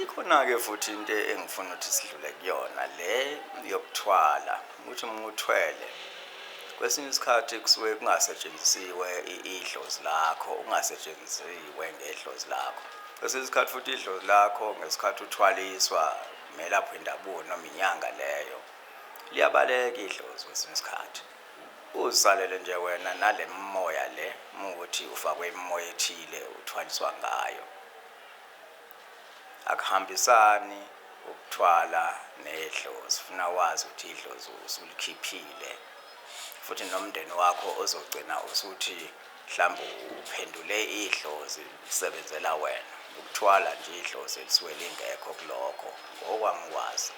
ikhona-ke futhi into engifuna ukuthi sidlule kuyona le yokuthwala ukuthi uma uthwele kwesinye isikhathi kusuke kungasetshenzisiwe idlozi lakho ungasetshenzisiwe ngedlozi lakho kwesinye isikhathi futhi idlozi lakho ngesikhathi uthwaliswa melapho indabuko noma inyanga leyo liyabaleka idlozi kwesinye isikhathi Uzalele nje wena nale mimoya le mukuthi ufakwe imimoya ethile uthwaliswa ngayo. Akuhambisani ukuthwala nedlozi funa wazi ukuthi idlozi usulikhiphile futhi nomndeni wakho ozogcina usuthi mhlawumbe uphendule idlozi lisebenzela wena ukuthwala nje idlozi elisuke lingekho kulokho ngokwami ukwazi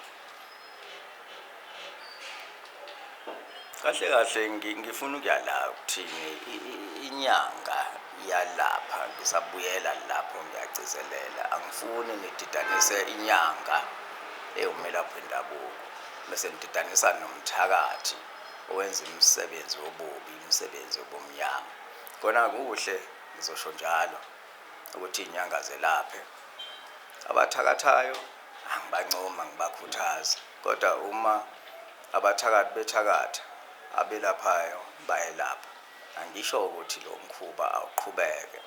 kahle kahle ngifuna ukuyala kuthini inyanga iyalapha ngisabuyela lapho ngiyagcizelela angifuni ngididanise inyanga ewumelaphi wendabuko bese ngididanisa nomthakathi owenza imisebenzi wobubi imisebenzi yobumnyama kona kuhle ngizosho njalo ukuthi inyanga zelaphe abathakathayo Angibancoma, ngibakhuthaza kodwa uma abathakathi bethakatha, abelaphayo bayelapha. Angisho ukuthi lo mkhuba awuqhubeke,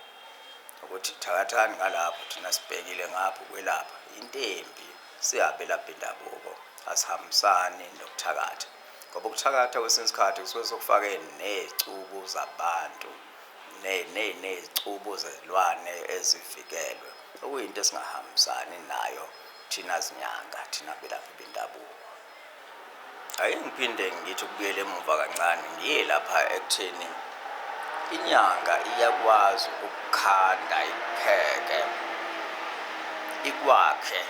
ukuthi thakathani ngalapho thina sibhekile ngapha ukwelapha. Intemphi siyabelaphi bendabuko, asihambisani nokuthakatha ngoba ukuthakatha kwesinye isikhathi kusuke sekufake ney'cubu zabantu. nezicubu zezilwane ezivikelwe, okuyinto esingahambisani nayo thina zinyanga, thina belaphi bendabuko. Ake ngiphinde ngithi ukubuyela emuva kancane, ngiye lapha ekutheni inyanga iyakwazi ukukhanda ipheke ikwakhe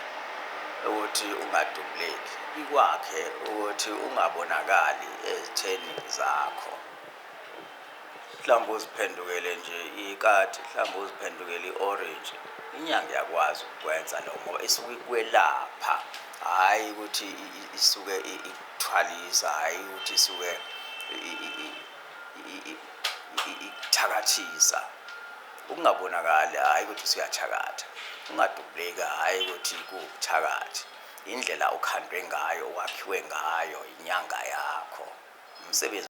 ukuthi ungadubuleki ikwakhe ukuthi ungabonakali ezitheni zakho. mhlawumbe uziphendukele nje ikati mhlawumbe uziphendukele i-orange inyanga yakwazi ukukwenza lokho ngoba isuke ikwelapha hhayi ukuthi isuke ikuthwalisa hhayi ukuthi isuke ikuthakathisa ukungabonakali hhayi ukuthi usuyathakatha ungadubuleki hhayi ukuthi kuwubuthakathi indlela okhandwe ngayo wakhiwe ngayo inyanga yakho umsebenzi